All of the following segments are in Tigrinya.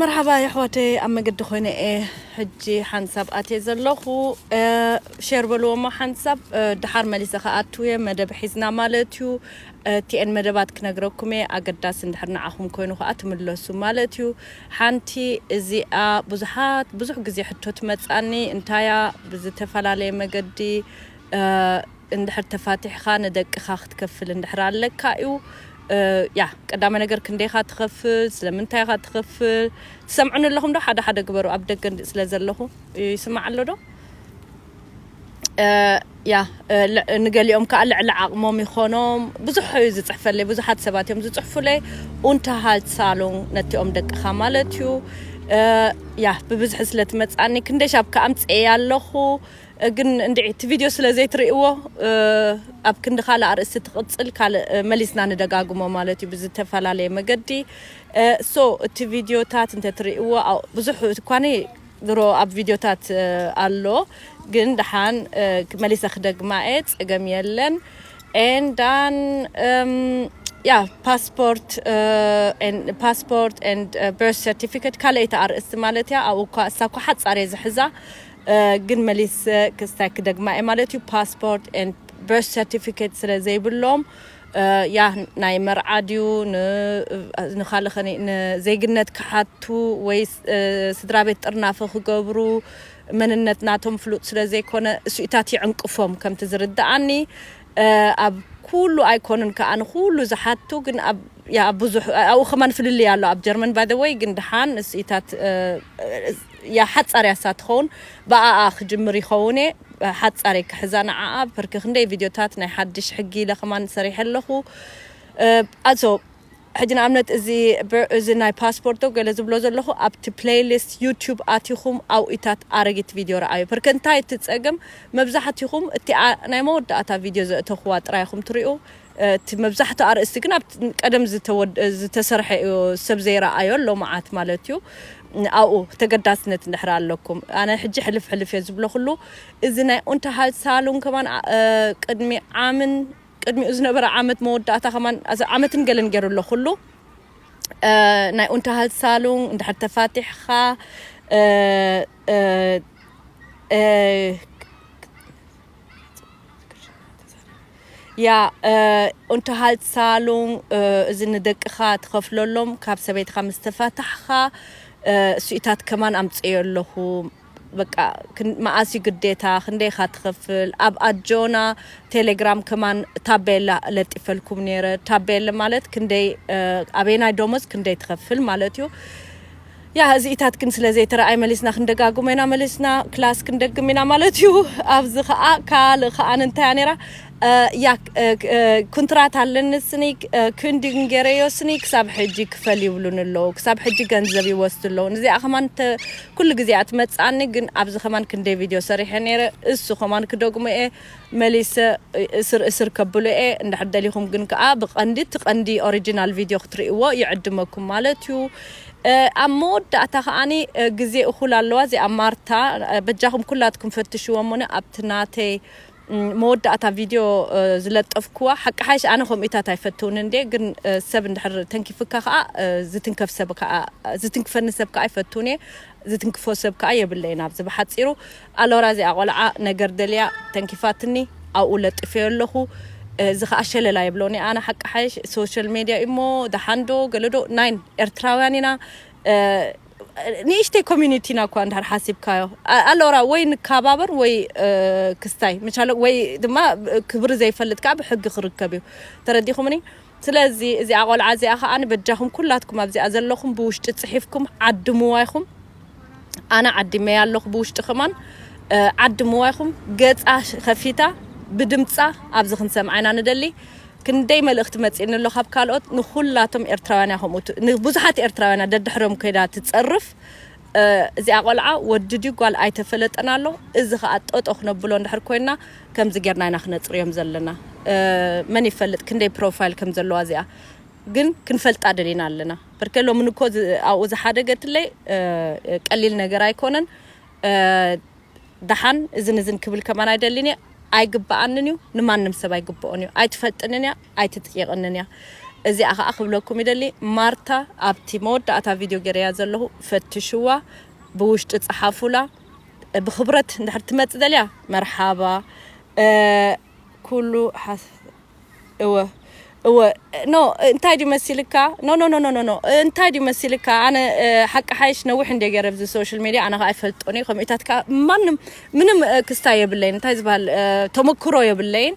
መርሓባ የሕዋተይ ኣብ መገዲ ኮይነ እየ ሕጂ ሓንሳብ ኣትየ ዘለኹ ሼር በልዎ እሞ ሓንሳብ ድሓር መሊሰ ክኣቱ እየ መደብ ሒዝና ማለት እዩ እቲኤን መደባት ክነግረኩም እየ ኣገዳሲ እንድሕር ንዓኹም ኮይኑ ከዓ ትምለሱ ማለት እዩ ሓንቲ እዚኣ ብዙሓት ብዙሕ ግዜ ሕቶ ትመፃኒ እንታያ ብዝተፈላለየ መገዲ እንድሕር ተፋቲሕኻ ንደቅኻ ክትከፍል እንድሕር ኣለካ እዩ ያ ቀዳማይ ነገር ክንደይኻ ትኸፍል ስለምንታይ ኢኻ ትኸፍል ትሰምዑኒ ኣለኹም ዶ ሓደ ሓደ ግበሩ ኣብ ደገ እንዲ ስለ ዘለኹ ይስማዕ ኣሎ ዶ ያ ንገሊኦም ከዓ ልዕሊ ዓቕሞም ይኾኖም ብዙሕ እዩ ዝፅሕፈለይ ብዙሓት ሰባት እዮም ዝፅሕፉለይ ኡንተሃልትሳሎን ነቲኦም ደቅኻ ማለት እዩ ያ ብብዝሒ ስለ ትመፅኣኒ ክንደይ ሻብ ከዓ ኣምፅኤ ኣለኹ ግን እንድዒ እቲ ቪድዮ ስለ ዘይትርእይዎ ኣብ ክንዲ ካልእ ኣርእስቲ ትቕጽል ካልእ መሊስና ንደጋግሞ ማለት እዩ ብዝተፈላለየ መገዲ ሶ እቲ ቪድዮታት እንተትርእይዎ ብዙሕ እኳኒ ድሮ ኣብ ቪድዮታት ኣሎ ግን ደሓን መሊሰ ክደግማ እየ ጸገም የለን and then um, yeah passport uh, and passport and uh, birth certificate ካልኣይቲ ኣርእስቲ ማለት እያ ኣብኡ እኳ እሳ እኳ ሓጻር እየ ዝሕዛ ግን መሊሰ ክስታይ ክደግማ እየ ማለት እዩ ፓስፖርት ኤንድ በርስ ሰርቲፊኬት ስለ ዘይብሎም ያ ናይ መርዓ ድዩ ንካልእ ከ ንዜግነት ክሓቱ ወይ ስድራ ቤት ጥርናፈ ክገብሩ መንነት ናቶም ፍሉጥ ስለ ዘይኮነ እሱኢታት ይዕንቅፎም ከምቲ ዝርድኣኒ ኣብ ኩሉ ኣይኮኑን ክኣ ንኩሉ ዝሓቱ ግን ኣብ ያ ብዙሕ ኣብኡ ከማን ፍልልይ ኣሎ ኣብ ጀርመን ባይ ዘ ወይ ግን ድሓን እሲኢታት ያ ሓጻር እያ እሳ ትኸውን ብኣኣ ክጅምር ይኸውን እየ ሓጻር እየ ክሕዛ ንዓኣ ፐርኪ ክንደይ ቪድዮታት ናይ ሓድሽ ሕጊ ኢለ ከማን ሰሪሐ ኣለኹ ኣሶ ሕጂ ንኣብነት እዚ ብር እዚ ናይ ፓስፖርት ዶ ገለ ዝብሎ ዘለኹ ኣብቲ ፕለይ ሊስት ዩቱብ ኣቲኹም ኣውኢታት ኣረጊት ቪድዮ ረኣዩ ፕርክ እንታይ እቲ ጸገም መብዛሕቲኹም እቲኣ ናይ መወዳእታ ቪድዮ ዘእተኹዋ ጥራይ ኢኹም ትሪኡ እቲ መብዛሕቱ ኣርእስቲ ግን ኣብ ቀደም ዝተሰርሐ እዩ ሰብ ዘይረኣዮ ኣሎ መዓት ማለት እዩ ኣብኡ ተገዳስነት እንድሕር ኣለኩም ኣነ ሕጂ ሕልፍ ሕልፍ እየ ዝብለኹሉ እዚ ናይ ኡንተሃልሳሉን ከማን ቅድሚ ዓምን ቅድሚኡ ዝነበረ ዓመት መወዳእታ ከማን ዓመትን ገለን ገይሩ ኣሎ ኩሉ ናይ ኡንተሃልሳሉን እንድሕር ተፋቲሕኻ ያ ኡንተሃልሳሉን እዚ ንደቅኻ ትኸፍለሎም ካብ ሰበይትኻ ምስ ተፋታሕኻ እሱኢታት ከማን ኣምፅኤ ኣለኹ በቃ መኣስ እዩ ግዴታ ክንደይ ኢካ ትክፍል ኣብ ኣጆና ቴሌግራም ከማን ታቤላ ለጢፈልኩም ነይረ ታቤለ ማለት ክንደይ ኣበየናይ ደሞዝ ክንደይ ትከፍል ማለት እዩ ያ እዚኢታት ግን ስለ ዘይተረኣይ መሊስና ክንደጋግሞ ኢና መሊስና ክላስ ክንደግም ኢና ማለት እዩ ኣብዚ ከዓ ካልእ ከዓ እንታይ እያ ነይራ ያክ ኩንትራት ኣለንስኒ ክንድን ገረዮስኒ ክሳብ ሕጂ ክፈል ይብሉን ኣለዉ ክሳብ ሕጂ ገንዘብ ይወስዱ ኣለዉ ንዚኣ ከማን ኩሉ ግዜ እያ ትመጽኣኒ ግን ኣብዚ ከማን ክንደይ ቪድዮ ሰሪሐ ነይረ እሱ ከማን ክደግሞ እየ መሊሰ እስር እስር ከብሎ እየ እንድሕር ደሊኹም ግን ከኣ ብቀንዲ እቲ ቀንዲ ኦሪጂናል ቪድዮ ክትርእይዎ ይዕድመኩም ማለት እዩ ኣብ መወዳእታ ከኣኒ ግዜ እኹል ኣለዋ እዚኣ ማርታ በጃኹም ኩላትኩም ፈትሽዎ እሞኒ ኣብቲ ናተይ መወዳእታ ቪድዮ ዝለጠፍክዋ ሓቂ ሓይሽ ኣነ ከምኡታት ኣይፈትውን እንዴ ግን ሰብ እንድሕር ተንኪፍካ ከኣ ዝትንከፍ ሰብ ከኣ ዝትንክፈኒ ሰብ ከኣ ይፈትውን እየ ዝትንክፎ ሰብ ከኣ የብለይን ኣብዚ ብሓጺሩ ኣሎራ እዚኣ ቆልዓ ነገር ደልያ ተንኪፋትኒ ኣብኡ ለጥፈዮ ኣለኹ እዚ ከዓ ሸለላ የብሎን ኣነ ሓቂ ሓይሽ ሶሻል ሜድያ እሞ ደሓንዶ ገለዶ ናይን ኤርትራውያን ኢና ንእሽተይ ኮሚኒቲ ኢና እኳ እንድሕር ሓሲብካዮ ኣሎራ ወይ ንከባበር ወይ ክስታይ ምቻለ ወይ ድማ ክብሪ ዘይፈልጥ ከዓ ብሕጊ ክርከብ እዩ ተረዲኹምኒ ስለዚ እዚኣ ቆልዓ እዚኣ ከዓ በጃኹም ኩላትኩም ኣብዚኣ ዘለኹም ብውሽጢ ፅሒፍኩም ዓድምዋ ይኹም ኣነ ዓዲመያ ኣለኹ ብውሽጢ ከማን ዓድምዋ ይኹም ገፃ ከፊታ ብድምፃ ኣብዚ ክንሰምዓ ኢና ንደሊ ክንደይ መልእኽቲ መጺእኒ ኣሎ ካብ ካልኦት ንኹላቶም ኤርትራውያን እያ ከምኡ ት- ንብዙሓት ኤርትራውያን እያ ደድሕሮም ኮይዳ ትጸርፍ እ፣ እዚኣ ቆልዓ ወዲ ድዩ ጓል ኣይተፈለጠን ኣሎ እዚ ከኣ ጠጦ ክነብሎ እንድሕር ኮይና ከምዚ ጌርና ኢና ክነጽርዮም ዘለና እ፣ መን ይፈልጥ ክንደይ ፕሮፋይል ከም ዘለዋ እዚኣ ግን ክንፈልጣ ደሊና ኣለና በርከ ሎሚ ንኮ ዝ- ኣብኡ ዝሓደገትለይ እ፣ ቀሊል ነገር ኣይኮነን እ፣ ደሓን እዝን እዝን ክብል ከማን ኣይደልን እየ ኣይግበኣንን እዩ ንማንም ሰብ ኣይግበኦን እዩ ኣይትፈጥንን እያ ኣይትጥይቕንን እያ እዚኣ ከዓ ክብለኩም ይደሊ ማርታ ኣብቲ መወዳእታ ቪድዮ ገረያ ዘለኹ ፈትሽዋ ብውሽጢ ፀሓፉላ ብክብረት እንድሕር ትመፅ ደልያ መርሓባ ኩሉ ሓሶት እወ እወ ኖ እንታይ ድዩ መሲልካ ኖ ኖ ኖ ኖ ኖ እንታይ ድዩ መሲልካ ኣነ ሓቂ ሓይሽ ነዊሕ እንደ ገረ ብዚ ሶሻል ሚድያ ኣነ ከዓ ኣይፈልጦን እዩ ከምኢታት ከዓ ማንም ምንም ክስታ የብለይን እንታይ ዝበሃል ተመክሮ የብለይን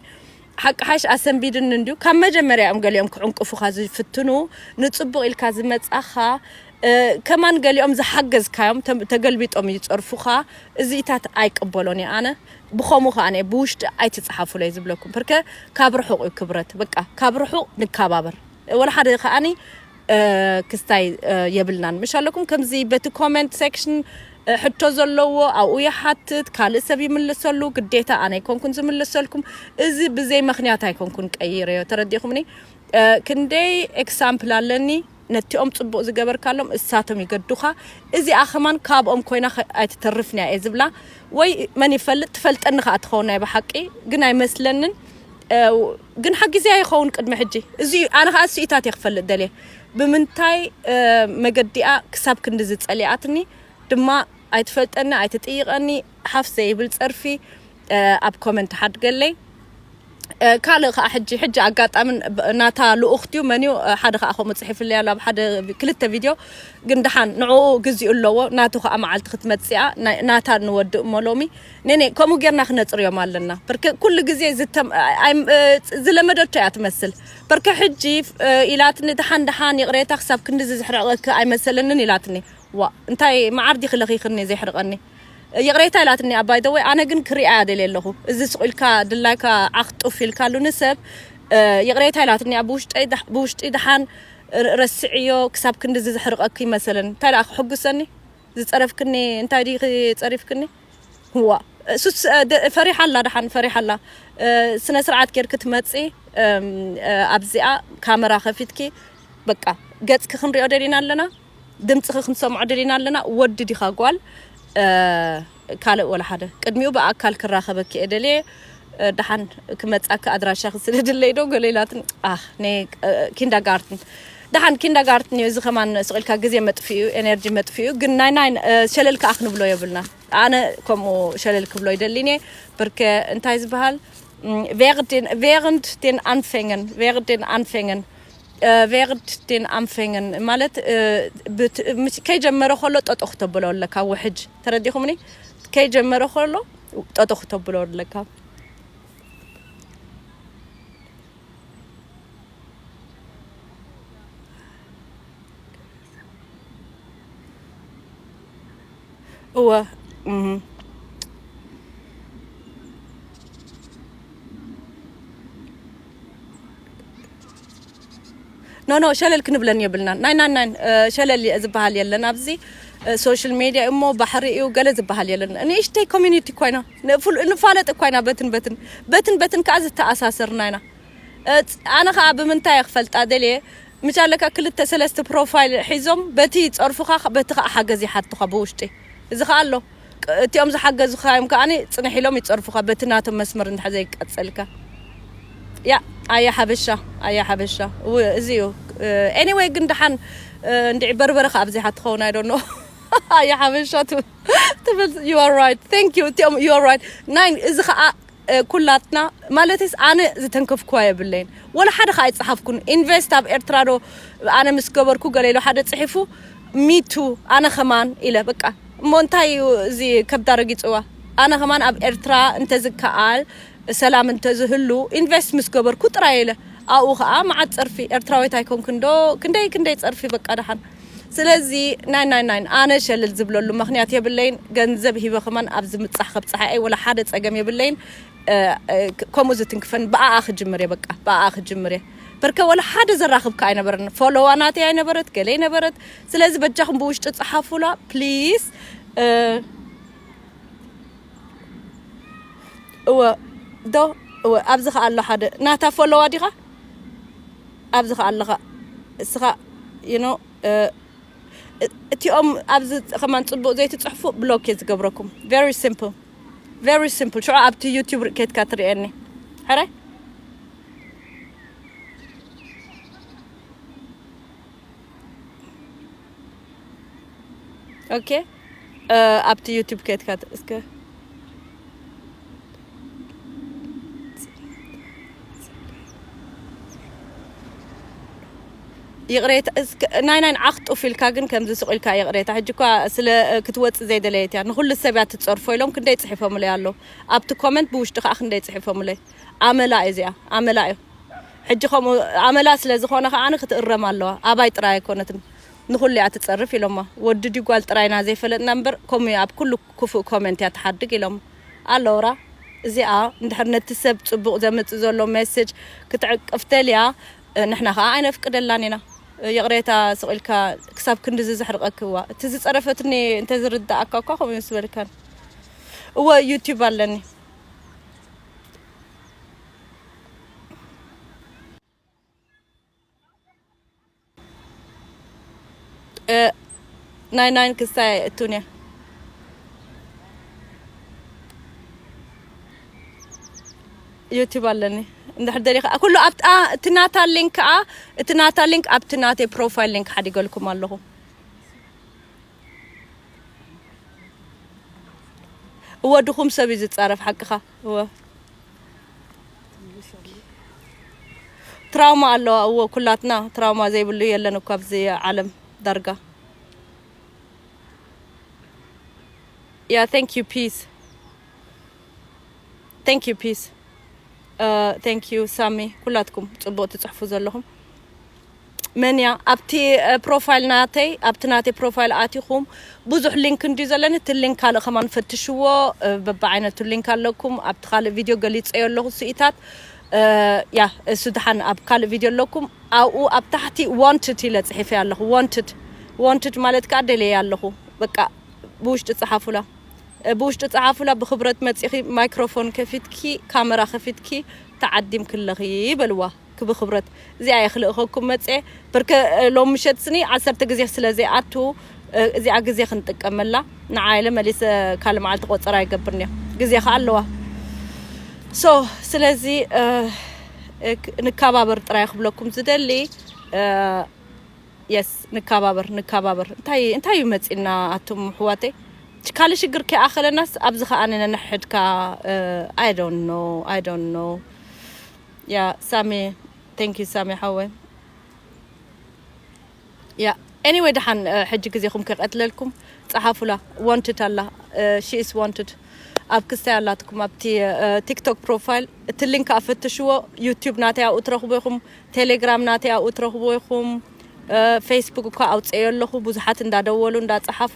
ሓቂ ሓይሽ ኣሰንቢድኒ እንድዩ ካብ መጀመርያ እዮም ገሊኦም ክዕንቅፉኻ ዝፍትኑ ንፅቡቕ ኢልካ ዝመፃኻ ከማን ገሊኦም ዝሓገዝካዮም ተገልቢጦም ይፀርፉኻ እዚኢታት ኣይቅበሎን እየ ኣነ ብከሙ ከኣነ ብውሽጢ ኣይትጽሓፉለይ ዝብለኩም ፕርከ ካብ ርሑቅ እዩ ክብረት በቃ ካብ ርሑቅ ንካባበር ወላ ሓደ ከኣኒ ክስታይ የብልናን ምሽ ኣለኩም ከምዚ በቲ ኮመንት ሴክሽን ሕቶ ዘለዎ ኣብኡ ይሓትት ካልእ ሰብ ይምልሰሉ ግዴታ ኣነ ኣይኮንኩን ዝምልሰልኩም እዚ ብዘይ ምክንያት ኣይኮንኩን ቀይረዮ ተረዲኹምኒ ክንደይ ኤክሳምፕል ኣለኒ ነቲኦም ጽቡቅ ዝገበርካሎም እሳቶም ይገዱካ እዚኣ ከማን ካብኦም ኮይና ኣይትተርፍን እያ እየ ዝብላ ወይ መን ይፈልጥ ትፈልጠኒ ከኣ ትኸውን ናይ ብሓቂ ግን ኣይመስለንን ግን ሓጊዝያ ይኸውን ቅድሚ ሕጂ እዚ ኣነ ከኣ ስኢታት እየ ክፈልጥ ደልየ ብምንታይ መገዲኣ ክሳብ ክንዲ ዝጸሊኣትኒ ድማ ኣይትፈልጠኒ ኣይትጥይቀኒ ሓፍ ዘይብል ጸርፊ ኣብ ኮመንት ሓድገለይ ካልእ ከዓ ሕጂ ሕጂ ኣጋጣሚ ናታ ልኡኽት እዩ መን እዩ ሓደ ከዓ ከምኡ ፅሒፍለይ ኣሎ ኣብ ሓደ ክልተ ቪድዮ ግን ድሓን ንዕኡ ግዚኡ ኣለዎ ናቱ ከዓ መዓልቲ ክትመፅኣ ናታ ንወድእ እሞ ሎሚ ነኔ ከምኡ ጌርና ክነፅርዮም ኣለና ብርክ ኩሉ ግዜ ዝለመደቶ እያ ትመስል ብርክ ሕጂ ኢላትኒ ድሓን ድሓን ይቕሬታ ክሳብ ክንዲዚ ዝሕርቕክ ኣይመሰለንን ኢላትኒ ዋ እንታይ መዓር ዲኺ ለኺኽኒ ዘይሕርቐኒ ይቕሬታ ኢላትኒ እያ ባይ ዘ ወይ ኣነ ግን ክሪኣ እያ ደልየ ኣለኹ እዚ ስቕ ኢልካ ድላይካ ዓኽ ጡፍ ኢልካሉ ንሰብ ይቕሬታ ኢላትኒ እያ ብውሽጠይ ዳሕ- ብውሽጢ ድሓን ር- ረስዕዮ ክሳብ ክንድዚ ዘሕርቐኪ ይመሰለኒ እንታይ ደኣ ክሕጉሰኒ ዝጸረፍክኒ እንታይ ዲኺ ጸሪፍክኒ ዋ እሱስ እ፣ ደ- ፈሪሓ ኣላ ድሓን ፈሪሓ ኣላ እ፣ ስነ ስርዓት ጌርኪ ትመጺ እም፣ እ፣ ኣብዚኣ ካመራ ከፊትኪ በቃ ገጽኪ ክንሪኦ ደሊና ኣለና ድምጽኺ ክንሰምዖ ደሊና ኣለና ወዲ ዲኻ ጓል ካልእ ወላ ሓደ ቅድሚኡ ብኣካል ክራኸበኪ እየ ደልየ ደሓን ክመጻኪ ኣድራሻኺ ስደድለይ ዶ ገለ ኢላትኒ ኣህ ነ ኪንዳጋርትን ደሓን ኪንዳጋርትን እዩ እዚ ከማን ስቂልካ ግዜ መጥፍኡ እዩ ኤነርጂ መጥፍኡ እዩ ግን ናይ ናይ ሸለል ከኣ ክንብሎ የብልና ኣነ ከምኡ ሸለል ክብሎ ይደሊን እየ ብርከ እንታይ ዝበሃል ቬርንድ ቴን ኣንፌንገን ቬርንድ ቴን ኣንፌንገን ቨርድ ዴን ኣንፈንግን ማለት ከይጀመረ ከሎ ጠጦ ክተብሎ ኣለካ ውሕጅ ተረዲኹምኒ ከይጀመረ ከሎ ጠጦ ክተብሎ ኣለካ እወ ኖ ኖ ሸለል ክንብለን የብልናን ናይ ናይ ናይ ሸለል ዝበሃል የለን ኣብዚ ሶሻል ሜድያ እሞ ባሕሪ እዩ ገለ ዝበሃል የለን ንእሽተይ ኮሚኒቲ ኮይና ንፋለጥ ኮይና በትን በትን በትን በትን ከዓ ዝተኣሳሰርና ኢና ኣነ ከዓ ብምንታይ ክፈልጣ ደልየ ምቻለካ ክልተ ሰለስተ ፕሮፋይል ሒዞም በቲ ይፀርፉኻ በቲ ከዓ ሓገዝ ይሓቱኻ ብውሽጢ እዚ ከዓ ኣሎ እቲኦም ዝሓገዙኻዮም ከኣ ጽንሕ ኢሎም ይጸርፉኻ በቲ ናቶም መስመር እንድሕር ዘይቀጸልካ ያእ ኣየ ሓበሻ ኣየ ሓበሻ እው እዚ እዩ ኤኒወይ ግን ደሓን እንድዒ በርበረ ከኣ ኣብዚሓ ትኸውን ኣይ ዶንት ኖ ኣየ ሓበሻ ትብል ዩ ኣር ራይት ቴንክ ዩ እቲኦም ዩ ኣር ራይት ናይ እዚ ከኣ ኩላትና ማለትስ ኣነ ዝተንከፍክዋ የብለይን ወላ ሓደ ከ ኣይጸሓፍኩን ኢንቨስት ኣብ ኤርትራ ዶ ኣነ ምስ ገበርኩ ገለ ኢሉ ሓደ ጽሒፉ ሚቱ ኣነ ከማን ኢለ በቃ እሞ እንታይ እዩ እዚ ከብዳ ረጊጽዋ ኣነ ከማን ኣብ ኤርትራ እንተዝከኣል ሰላም እንተዝህሉ ኢንቨስት ምስ ገበርኩ ጥራይ ኢለ ኣብኡ ከኣ መዓት ጸርፊ ኤርትራዊት ኣይኮንክን ዶ ክንደይ ክንደይ ጸርፊ በቃ ደሓን ስለዚ ናይ ናይ ናይ ኣነ ሸልል ዝብለሉ ምክንያት የብለይን ገንዘብ ሂበ ከማን ኣብዚ ምብጻሕ ከብጽሓ እየ ወላ ሓደ ጸገም የብለይን ከምኡ ዝትንክፈን ብኣኣ ክጅምር እየ በቃ ብኣኣ ክጅምር እየ በርከ ወላ ሓደ ዘራክብ ከ ኣይነበረን ፎሎዋ ናተይ ኣይነበረት ገለይ ነበረት ስለዚ በጃኹም ብውሽጢ ጸሓፉላ ፕሊስ እወ ዶ እወ ኣብዚ ከ ኣሎ ሓደ ናታ ፎሎዋ ዲኻ ኣብዚ ከኣ ኣለኻ እስኻ you know እቲኦም ኣብዚ ከማን ጽቡቅ ዘይትጽሕፉ ብሎክ እየ ዝገብረኩም very simple very simple ሽዑ ኣብቲ ዩቲዩብ ኬትካ ትርእየኒ ሕራይ ኦኬ ኣብቲ ዩቱብ ከትካ እስከ ይቕሬታ ናይ ናይ ዓኽ ጡፍ ኢልካ ግን ከምዚ ስቕ ኢልካ ይቕሬታ ሕጂ እኳ ስለ ክትወፅእ ዘይደለየት እያ ንኩሉ ሰብ እያ ትፀርፎ ኢሎም ክንደይ ፅሒፎምለይ ኣሎ ኣብቲ ኮመንት ብውሽጢ ከዓ ክንደይ ፅሒፎምለይ ኣመላ እዩ እዚኣ ኣመላ እዩ ሕጂ ከምኡ ኣመላ ስለ ዝኾነ ከዓ ክትእረም ኣለዋ ኣባይ ጥራይ ኣይኮነትን ንኹሉ እያ ትጸርፍ ኢሎሞ ወዲ ድዩ ጓል ጥራይ ኢና ዘይፈለጥና እምበር ከምኡ እያ ኣብ ኩሉ ኩፉእ ኮመንት እያ ትሓድግ ኢሎሞ ኣሎውራ እዚኣ እንድሕር ነቲ ሰብ ጽቡቕ ዘምጽእ ዘሎ ሜስጅ ክትዕቅፍ ደልያ ንሕና ከኣ ኣይነፍቅደላን ኢና ይቕሬታ ስቕ ኢልካ ክሳብ ክንድዚ ዘሕርቐኪ እዋ እቲ ዝጸረፈትኒ እንተ ዝርድኣካ እኳ ከምኡ ዝበልካን እወ ዩቲዩብ ኣለኒ ናይ ናይን ክስታይ ኣይእቱን እያ ዩቲብ ኣለኒ እንድሕር ደሊ ከዓ ኩሉ ኣብቲ ኣ- እቲ ናታ ሊንክ ከዓ እቲ ናታ ሊንክ ኣብቲ ናተይ ፕሮፋይል ሊንክ ሓዲገልኩም ኣለኹ እወ ድኹም ሰብ እዩ ዝፃረፍ ሓቅኻ እወ ትራውማ ኣለዋ እወ ኩላትና ትራውማ ዘይብሉ የለን እኮ ኣብዚ ዓለም ዳርጋ ያ ቴንክ ዩ ፒስ ቴንክ ዩ ፒስ ቴንክ ዩ ሳሚ ኩላትኩም ጽቡቅ ትጽሕፉ ዘለኹም መን እያ ኣብቲ ፕሮፋይል ናተይ ኣብቲ ናተይ ፕሮፋይል ኣቲኹም ብዙሕ ሊንክ እንድዩ ዘለኒ እቲ ሊንክ ካልእ ከማን ፈትሽዎ በብዓይነቱ ሊንክ ኣለኩም ኣብቲ ካልእ ቪድዮ ገሊፀዮ ኣለኹ ስኢታት ያ እሱ ድሓን ኣብ ካልእ ቪድዮ ኣለኩም ኣብኡ ኣብ ታሕቲ ዋንትድ ኢለ ፅሒፈ ኣለኹ ዋንትድ ዋንትድ ማለት ከዓ ደለየ ኣለኹ በቃ ብውሽጢ ፀሓፉላ ብውሽጢ ፀሓፉላ ብክብረት መፂኺ ማይክሮፎን ከፊትኪ ካመራ ከፊትኪ ተዓዲምክለኺ በልዋ ክብ ክብረት እዚኣ እየ ክልእኸኩም መፀ ብርከ ሎም ምሸት ስኒ ዓሰርተ ግዜ ስለ ዘይኣቱ እዚኣ ግዜ ክንጥቀመላ ንዓ ኢለ መሊሰ ካልእ መዓልቲ ቆፀራ ይገብር እኒኦ ግዜ ከዓ ኣለዋ ሶ ስለዚ ንከባበር ጥራይ ክብለኩም ዝደሊ የስ ንከባበር ንከባበር እንታይ እንታይ እዩ መፂና ኣቱም ሕዋተይ ካልእ ሽግር ከይኣኸለናስ ኣብዚ ከኣ ነንሕድካ ኣይ ዶንት ኖ ኣይ ዶንት ኖ Yeah, Sammy. Thank you, Sammy ሓወይ። Yeah. Anyway ደሓን እ፣ ሕጂ ግዜኹም ከቀትለልኩም ጸሓፉላ ዋንትድ ኣላ ሺ ኢስ ዋንትድ ኣብ ክስታይ ኣላትኩም ኣብቲ እ፣ ቲክቶክ ፕሮፋይል እቲ ሊንክ ኣፈትሽዎ ዩቲዩብ ናተይ ኣብኡ ትረኽቡ ኢኹም ቴሌግራም ናተይ ኣብኡ ትረኽቡ ኢኹም ፌስቡክ እኳ ኣውፀዮ ኣለኹ ብዙሓት እንዳደወሉ እንዳፀሓፉ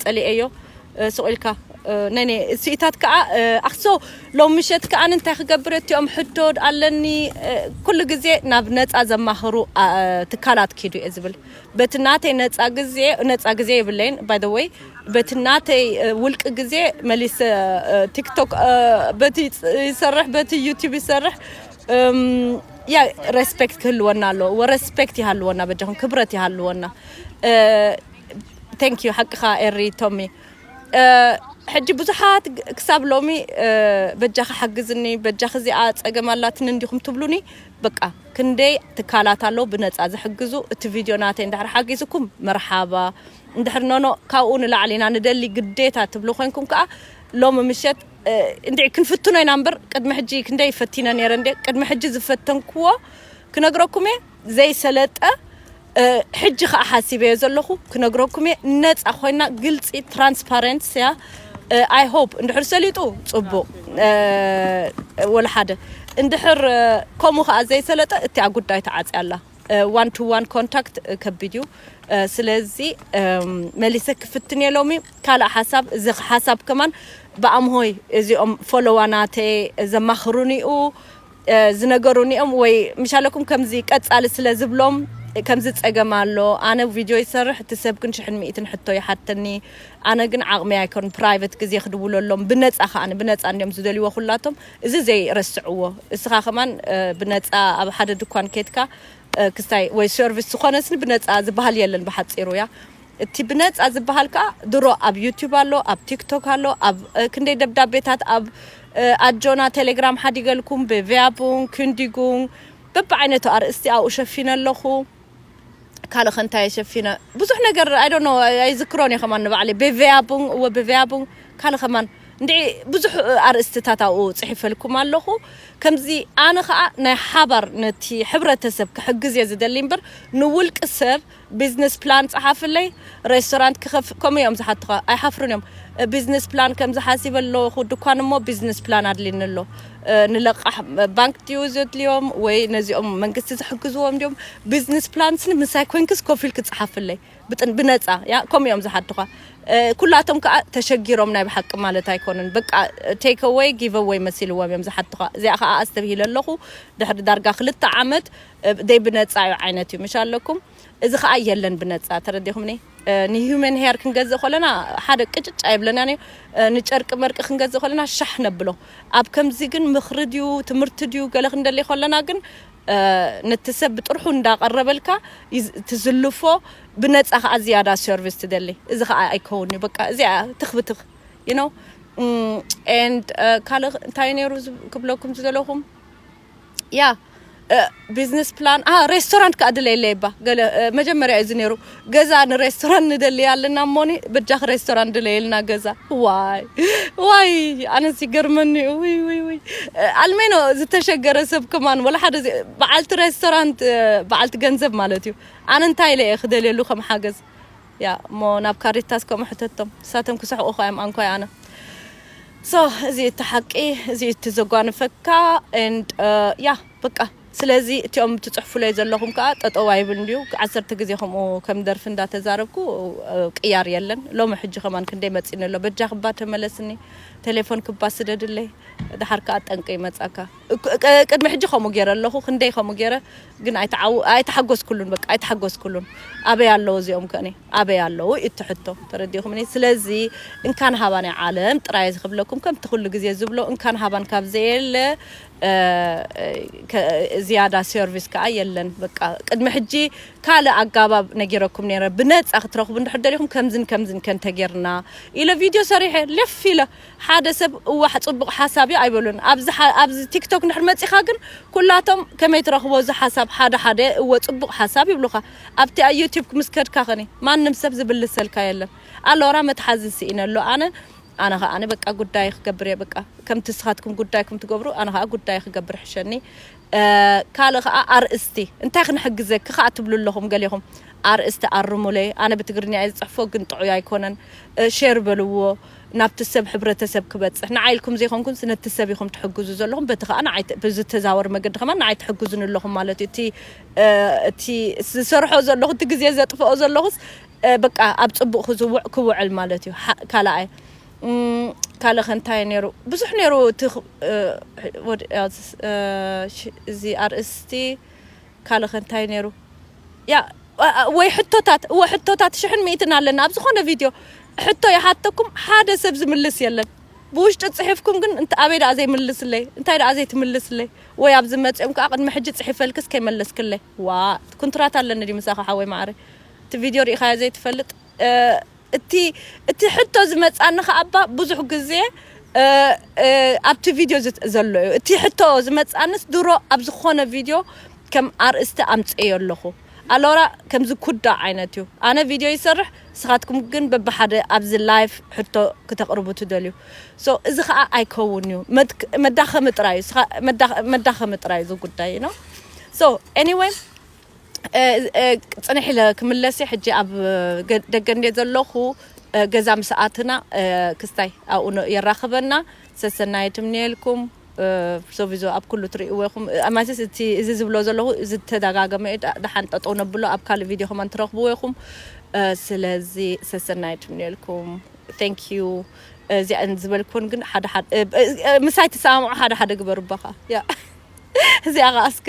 ፀሊኤዮ ስቕ ኢልካ ነኔ ስኢታት ከዓ ኣክሶ ሎም ምሸት ከዓ እንታይ ክገብር እትኦም ሕቶ ኣለኒ ኩሉ ግዜ ናብ ነፃ ዘማኽሩ ትካላት ኪዱ እየ ዝብል በቲ ናተይ ነፃ ግዜ ነፃ ግዜ የብለይን ባይ ዘ ወይ በቲ ናተይ ውልቂ ግዜ መሊሰ ቲክቶክ በቲ ይሰርሕ በቲ ዩቲብ ይሰርሕ ያ ሬስፔክት ክህልወና ኣለዎ ወረስፔክት ይሃልወና በጃኹም ክብረት ይሃልወና ቴንክ ዩ ሓቅኻ ኤሪ ቶሚ ሕጂ ብዙሓት ክሳብ ሎሚ በጃኺ ሓግዝኒ በጃኺ እዚኣ ፀገም ኣላትኒ እንዲኹም ትብሉኒ በቃ ክንደይ ትካላት ኣለዉ ብነፃ ዝሕግዙ እቲ ቪድዮ ናተይ እንድሕር ሓጊዝኩም መርሓባ እንድሕር ኖኖ ካብኡ ንላዕሊ ኢና ንደሊ ግዴታ ትብሉ ኮንኩም ከዓ ሎሚ ምሸት እንድዒ ክንፍትኖ ኢና እምበር ቅድሚ ሕጂ ክንደይ ፈቲነ ነይረ እንዴ ቅድሚ ሕጂ ዝፈተንክዎ ክነግረኩም እየ ዘይሰለጠ ሕጂ ከዓ ሓሲበዮ ዘለኹ ክነግረኩም እየ ነፃ ኮይና ግልፂ ትራንስፓረንስ እያ ኣይ ሆፕ እንድሕር ሰሊጡ ፅቡቕ ወላ ሓደ እንድሕር ከምኡ ከዓ ዘይሰለጠ እቲኣ ጉዳይ ተዓፅያ ኣላ ዋን ቱ ዋን ኮንታክት ከቢድ እዩ ስለዚ መሊሰ ክፍትን እየ ሎሚ ካልእ ሓሳብ እዚ ሓሳብ ከማን ብኣምሆይ እዚኦም ፎሎዋናተ ዘማኽሩኒ እዩ ዝነገሩኒ እዮም ወይ ምሻለኩም ከምዚ ቀጻሊ ስለ ዝብሎም ከምዚ ጸገም ኣሎ ኣነ ቪድዮ ይሰርሕ እቲ ሰብ ግን ሽሕን ሚእትን ሕቶ ይሓተኒ ኣነ ግን ዓቕሚ ኣይኮን ፕራይቨት ግዜ ክድውለሎም ብነፃ ከዓኒ ብነፃ እንዲዮም ዝደልይዎ ኩላቶም እዚ ዘይ ረስዕዎ እስኻ ከማን ብነጻ ኣብ ሓደ ድኳን ኬትካ ክስታይ ወይ ሰርቪስ ዝኾነስኒ ብነጻ ዝበሃል የለን ብሓጺሩ እያ እቲ ብነጻ ዝበሃል ከኣ ድሮ ኣብ ዩቲዩብ ኣሎ ኣብ ቲክቶክ ኣሎ ኣብ ክንደይ ደብዳቤታት ኣብ ኣጆና ቴሌግራም ሓዲገልኩም ብቪያቡን ክንዲጉን በብዓይነቱ ኣርእስቲ ኣብኡ ሸፊነ ኣለኹ ካልእ ከ እንታይ እየ ሸፊነ ብዙሕ ነገር ኣይ ዶንት ኖ ኣይዝክሮን እየ ከማን ንባዕለይ ቤቨያቡን እወ ቤቨያቡን ካልእ ከማን እንድዒ ብዙሕ ኣርእስትታት ኣብኡ ጽሒፈልኩም ኣለኹ ከምዚ ኣነ ከዓ ናይ ሓባር ነቲ ሕብረተሰብ ክሕግዝ እየ ዝደሊ እምበር ንውልቂ ሰብ ቢዝነስ ፕላን ጸሓፍለይ ሬስቶራንት ክኸፍ ከምኡ እዮም ዝሓትኻ ኣይሓፍሩን እዮም ቢዝነስ ፕላን ከምዚ ሓሲበ ኣለኹ ድኳን እሞ ቢዝነስ ፕላን ኣድልኒ ኣሎ ንለቃሕ ባንክ ድዩ ዘድልዮም ወይ ነዚኦም መንግስቲ ዝሕግዝዎም ድዮም ቢዝነስ ፕላንስኒ ምሳይ ኮንክስ ኮፍ ኢልክ ጽሓፍለይ ብነጻ ያ ከምኡ እዮም ዝሓቱኻ ኩላቶም ከዓ ተሸጊሮም ናይ ብሓቂ ማለት ኣይኮኑን በቃ ቴክ ኣወይ ጊቭ ኣወይ መሲልዎም እዮም ዝሓቱኻ እዚኣ ከዓ ኣስተብሂለ ኣለኹ ድሕሪ ዳርጋ ክልተ ዓመት ደይ ብነጻ እዩ ዓይነት እዩ ምሽ ኣለኩም እዚ ከዓ የለን ብነጻ ተረዲኹምኒ ንሂዩመን ሄር ክንገዝእ ከለና ሓደ ቅጭጭ ኣይብለናን እዩ ንጨርቂ መርቂ ክንገዝእ ከለና ሻሕ ነብሎ ኣብ ከምዚ ግን ምኽሪ ድዩ ትምህርቲ ድዩ ገለ ክንደሊ ከለና ግን ነቲ ሰብ ብጥርሑ እንዳቐረበልካ ትዝልፎ ብነፃ ከዓ ዝያዳ ሰርቪስ ትደሊ እዚ ከዓ ኣይከውን እዩ በቃ እዚኣ ትኽብትኽ ዩ ነው ኤንድ ካልእ እንታይ ነይሩ ክብለኩም ዝደለኹም ያ ቢዝነስ ፕላን አ ሬስቶራንት ከዓ ድለየለይ እባ ገለ እ፣ መጀመርያ እዩ እዚ ነይሩ ገዛ ንሬስቶራንት ንደሊ ኣለና እሞኒ በጃኺ ሬስቶራንት ድለየልና ገዛ ዋይ ዋይ ኣነስ ይገርመኒ እዩ ውይ ውይ ውይ እ፣ ኣልሜኖ ዝተሸገረ ሰብ ከማን ወላ ሓደ ዘ- በዓልቲ ሬስቶራንት እ፣ በዓልቲ ገንዘብ ማለት እዩ ኣነ እንታይ ኢለ እየ ክደልየሉ ከም ሓገዝ እያ እሞ ናብ ካሪታስ ከምኡ ሕተቶም ንሳቶም ክስሕቁኻ እዮም ኣንኳይ ኣነ ሶ እዚ እቲ ሓቂ እዚ እቲ ዘጓንፈካ ኤንድ ያ በቃ ስለዚ እቲኦም እትፅሕፉለይ ዘለኹም ከዓ ጠጠው ኣይብልን እዩ ዓሰርተ ግዜ ከምኡ ከም ደርፊ እንዳተዛረብኩ ቅያር የለን ሎሚ ሕጂ ከማን ክንደይ መፂኒ ኣሎ በጃ ክባ ተመለስኒ ቴሌፎን ክባ ስደድለይ ድሓር ከዓ ጠንቂ ይመፃካ ቅድሚ ሕጂ ከምኡ ገይረ ኣለኹ ክንደይ ከምኡ ገይረ ግን ኣይተሓጎስኩሉን በቃ ኣይተሓጎስኩሉን ኣበይ ኣለዉ እዚኦም ከኔ ኣበይ ኣለዉ እቲ ሕቶ ተረዲኹምኒ ስለዚ እንካን ሃባ ናይ ዓለም ጥራይ ዝክብለኩም ከምቲ ኩሉ ግዜ ዝብሎ እንካን ሃባን ካብ ዘየለ ዝያዳ ሰርቪስ ከዓ የለን በቃ ቅድሚ ሕጂ ካልእ ኣጋባብ ነጊረኩም ነረ ብነፃ ክትረኽቡ እንድሕር ደሊኹም ከምዝን ከምዝን ከንተጌርና ኢለ ቪድዮ ሰሪሐ ልፍ ኢለ ሓደ ሰብ እዋሕ ጽቡቅ ሓሳብ እዩ ኣይበሉን ኣብዚ ኣብዚ ቲክቶክ እንድሕር መጺኻ ግን ኩላቶም ከመይ ትረኽቦ እዚ ሓሳብ ሓደ ሓደ እወ ጽቡቅ ሓሳብ ይብሉኻ ኣብቲ ኣይ ዩቲብክ ምስ ከድካ ከኒ ማንም ሰብ ዝብልሰልካ የለን ኣሎራ መትሓዚ ሲኢነ ኣሎ ኣነ ኣነ ከኣ በቃ ጉዳይ ክገብር እየ በቃ ከምቲ ንስኻትኩም ጉዳይኩም ትገብሩ ኣነ ከኣ ጉዳይ ክገብር ሕሸኒ ካልእ ከኣ ኣርእስቲ እንታይ ክንሕግዘኪ ከኣ ትብሉ ኣለኹም ገሌኹም ኣርእስቲ ኣርሙለይ ኣነ ብትግርኛ እየ ዝጽሕፎ ግን ጥዑይ ኣይኮነን ሼር በልዎ ናብቲ ሰብ ሕብረተሰብ ክበጽሕ ንዓይ ኢልኩም ዘይኮንኩንስ ነቲ ሰብ ኢኹም ትሕግዙ ዘለኹም በቲ ከኣ ንዓይ ብዝተዛወር መገዲ ከማን ንዓይ ትሕግዙኒ ኣለኹም ማለት እዩ እቲ እቲ ዝሰርሖ ዘለኹ እቲ ግዜ ዘጥፍኦ ዘለኹስ በቃ ኣብ ጽቡቕ ክውዕል ማለት እዩ ካልኣይ ካልእ ከ እንታይ ነይሩ ብዙሕ ነይሩ እቲ እዚ ኣርእስቲ ካልእ ከ እንታይ ነይሩ ያ ወይ ሕቶታት እወ ሕቶታት ሽሕን ሚእትን ኣለና ኣብ ዝኾነ ቪድዮ ሕቶ ይሓተኩም ሓደ ሰብ ዝምልስ የለን ብውሽጢ ጽሒፍኩም ግን እንተ ኣበይ ደኣ ዘይምልስለይ እንታይ ደኣ ዘይትምልስለይ ወይ ኣብዚ መጽኦም ከዓ ቅድሚ ሕጂ ጽሒፈልክስ ከይመለስክለይ ዋ ኩንትራት ኣለኒ ድዩ ምሳኻ ሓወይ ማዕረ እቲ ቪድዮ ርኢኻዮ ዘይትፈልጥ እቲ እቲ ሕቶ ዝመጻኒ ከኣ እባ ብዙሕ ግዜ ኣብቲ ቪድዮ ዘሎ እዩ እቲ ሕቶ ዝመጻንስ ድሮ ኣብ ዝኾነ ቪድዮ ከም ኣርእስቲ ኣምጽኤዮ ኣለኹ ኣሎራ ከምዚ ኩዳ ዓይነት እዩ ኣነ ቪድዮ ይሰርሕ ንስኻትኩም ግን በብሓደ ኣብዚ ላይፍ ሕቶ ክተቕርቡ ትደልዩ ሶ እዚ ከኣ ኣይከውን እዩ መዳኸሚ ጥራይ እዩ መዳኸሚ ጥራይ እዩ እዚ ጉዳይ ነው ሶ ኤኒዌይ ፅንሕ ኢለ ክምለስ እየ ሕጂ ኣብ ደገ እንደ ዘለኹ ገዛ ምስ ኣትና ክስታይ ኣብኡ የራኽበና ሰሰናየ ትምንየልኩም ሶቪዞ ኣብ ኩሉ ትርእይዎ ኢኹም ማለትስ እቲ እዚ ዝብሎ ዘለኹ እዚ ተደጋገመ እዩ ደሓን ጠጠው ነብሎ ኣብ ካልእ ቪድዮ ከማን ትረኽብዎ ኢኹም ስለዚ ሰሰናየ ትምንየልኩም ቴንክ ዩ እዚኣን ዝበልኩን ግን ሓደ ሓደ ምሳይ ትሰማምዑ ሓደ ሓደ ግበሩ ባኻ ያ እዚኣ ኸኣ እስከ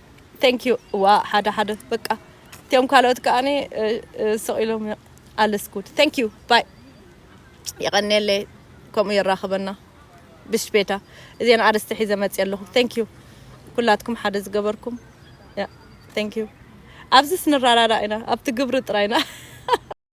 Thank you እዋ ሓደ ሓደ በቃ እትኦም ካልኦት ከኣኒ ስቕ ኢሎም ኣልስ ጉድ Thank you ባይ የቐንየለይ ከምኡ የራኽበና ብሽፔታ እዚን ኣርስቲ ሒዘ መፅየ ኣለኹ Thank you ኩላትኩም ሓደ ዝገበርኩም Thank you ኣብዚስ ንረዳዳእ ኢና ኣብቲ ግብሪ ጥራይና